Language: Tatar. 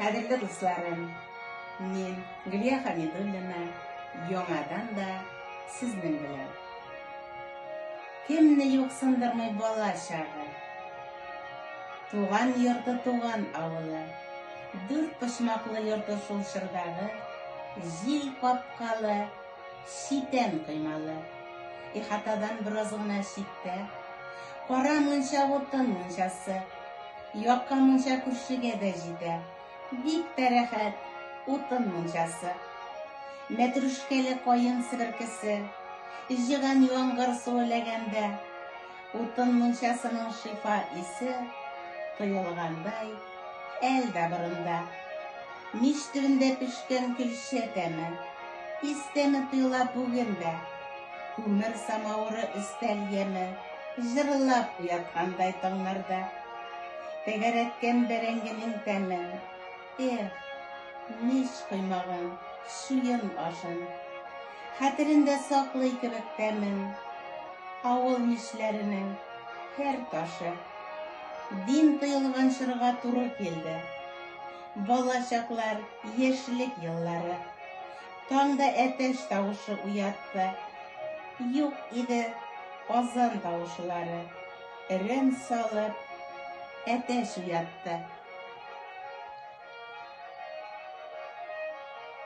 Кадерле дусларым, мин Гөлия Хәмидуллина, яңадан да сезнең белән. Кемне юксындырмый бала чагы, туган йорты туган авылы, дүрт почмаклы йорты шул чордагы, җил капкалы, читән коймалы, ихатадан бераз гына читтә, кара мунча утын мунчасы, Якка мунча күршегә дә җитә. Бик тә рәхәт, утын мунчасы. Мәтрүшкәле каен себеркесе, җыган яңгыр суы ләгәндә, утын мунчасының шифа исе тоелгандай, әл дә борында. Мич төбендә пешкән көлчә тәме, ис тәме тоела бүген дә. Күмер самавыры өстәл яме, Җырлап уяткандай таңнарда. Тәгәрәткән бәрәңгенең тәме, Эх, мич коймагын, чуен ашын. Хәтерендә саклый кебек тәмен, Авыл мишләренең һәр ташы. Дин тыелган чорга туры килде. Бала чаклар, яшьлек еллары. Таңда әтәч тавышы уятты. Юк иде азан тавышылары. Рем салып, әтәч уятты.